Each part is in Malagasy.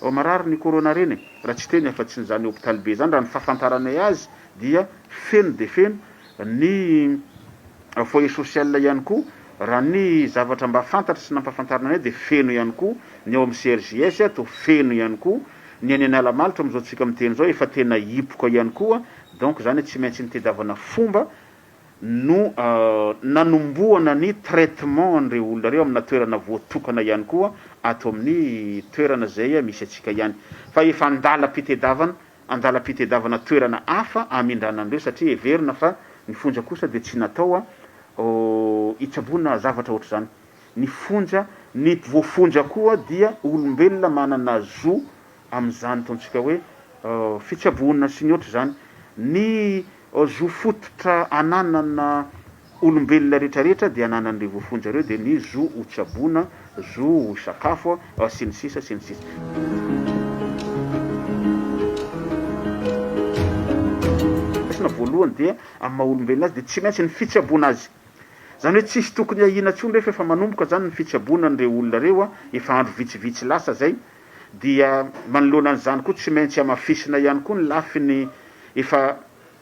Vao marary ny corona reny e! Raha tsy teny afa tsy ny zany hopitaly be zany raha ny fahafantaranay azy dia feno dia feno ny foyer social ihany koa raha ny zavatra mba fantatra sy nampahafantarina anay dia feno ihany koa ny ao amin'ny CRJS ato feno ihany koa ny any Analamalotra amin'izao tsika miteny izao efa tena hipoka ihany koa donc zany hoe tsy maintsy nitedavana fomba no nanombohana ny traitement an'ireo olona ireo amina toerana voatokana ihany koa ato amin'ny toerana izay misy antsika ihany fa efa an-dalam-pitedavana an-dalam-pitedavana toerana hafa hamindràna an'ireo satria heverina fa ny fonja kosa dia tsy natao hitsaboana zavatra ohatr'izany ny fonja, ny voafonja koa dia olombelona manana zo amin'izany ataontsika hoe fitsaboana sy ny ohatr'izany, ny Zo fototra ananana olombelona rehetra rehetra dia ananan'ireo voafonja ireo dia ny zo ho tsaboina, zo ho sakafo, sy ny sisa sy ny sisa. Voalohany dia amin'ny maha olombelona azy dia tsy maintsy ny fitsaboana azy. Izany hoe tsisy tokony ahiana intsony rehefa efa manomboka izany ny fitsaboana an'ireo olona ireo efa andro vitsivitsy lasa izay dia manoloana an'izany koa tsy maintsy hamafisina ihany koa ny lafiny efa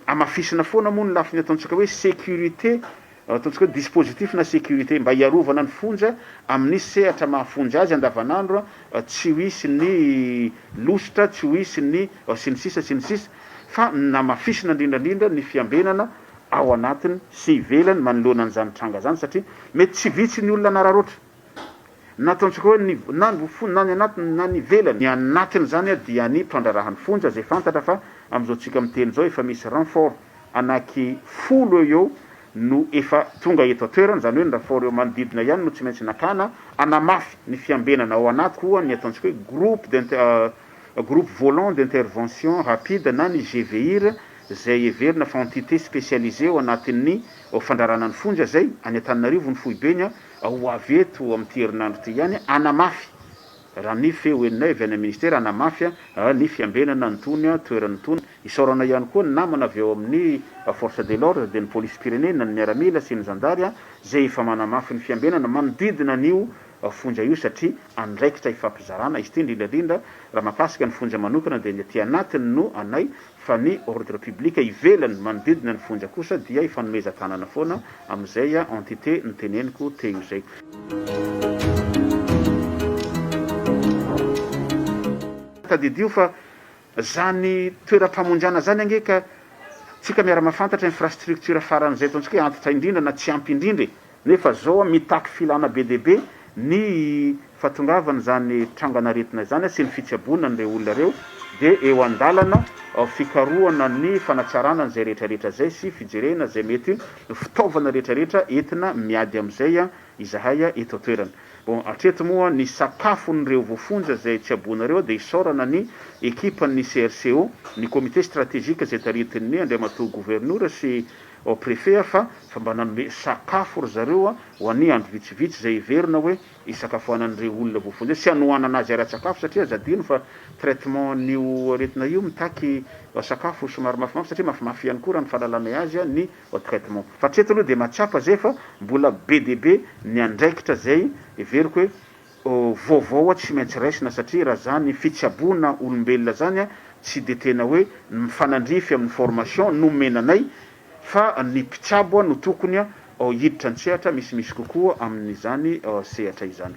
hamafisina foana moa ny lafiny ataontsika hoe sécurité ataontsika hoe dispositif na sécurité mba hiarovana ny fonja amin'ny sehatra maha fonja azy andavanandro tsy ho hisy ny lositra tsy ho hisy ny sy ny sisa sy ny sisa fa namafisina indrindrandrindra ny fiambenana ao anatiny sy ivelany manoloana an'izany tranga izany satria mety tsy vitsy ny olona nararoatra Na ataontsika hoe ny na ny fonja na ny anatiny na ny ivelany, ny anatiny izany dia ny mpandraharahan'ny fonja izay fantatra fa amin'izao tsika miteny izao efa misy renfort anaky folo eo eo no efa tonga eto an-toerana, izany hoe ny renfort eo manodidina ihany no tsy maintsy nakana hanamafy ny fiambenana ao anaty koa ny ataontsika hoe groupe d'inter groupe volant d'intervention rapide na ny GVIR izay heverina fa entité spécialisée ao anatin'ny fandrarana ny fonja izay any Antananarivo ny foibeny Ho avy eto amin'ity herinandro ity ihany hanamafy, raha ny feo henonay avy any amin'ny Minisitera, hanamafy ny fiambenana an'itony toerana itony. Isaorana ihany koa ny namana avy ao amin'ny Force de l'ordre, dia ny Polisim-pirenena, ny Miaramila sy ny Zandary izay efa manamafy ny fiambenana manodidina an'io fonja io satria andraikitra ifampizarana izy ity, indrindraindrindra raha mahakasika ny fonja manokana dia ny aty anatiny no anay. fa ny ordre public ivelany manodidina ny fonja kosa dia ifanomezan-tanana foana amin'izay entité noteneniko teo izay. Tadidio fa izany toeram-pamonjana izany ange ka tsika miara-mahafantatra infrastructure faran'izay ataontsika hoe antitra indrindra na tsy ampy indrindra e! Nefa zao mitaky filana be dia be ny fahatongavana izany trangana aretina izany sy ny fitsaboana an'ireo olona ireo dia eo an-dalana fikarohana ny fanatsarana an'izay rehetra rehetra izay sy fijerena izay mety ho fitaovana rehetra rehetra entina miady amin'izay izahay eto an-toerana. Bon, hatreto moa ny sakafon'ireo voafonja izay tsaboina ireo dia isaorana ny ekipan'ny CRCO, ny comité stratégique izay taritin'ny Andriamatoa Governora sy Ao préfet a fa fa mba nanome sakafo ry zareo a ho anie andro vitsivitsy zay heverina hoe hisakafoanan'ireo olona voafonja sy hanohanana azy ara-tsakafo satria aza adino fa traitement an'io aretina io mitaky sakafo somary mafimafy satria mafimafy ihany koa raha ny fahalalanay azy a ny traitement fa hatreto aloha dia mahatsapa zay fa mbola be dia be ny andraikitra zay heveriko hoe vaovao tsy maintsy raisina satria raha zany fitsaboana olombelona zany tsy de tena hoe ny mifanandrify amin'ny formation nomena anay fa ny mpitsabo no tokony hiditra an-tsehatra misimisy kokoa amin'izany sehatra izany.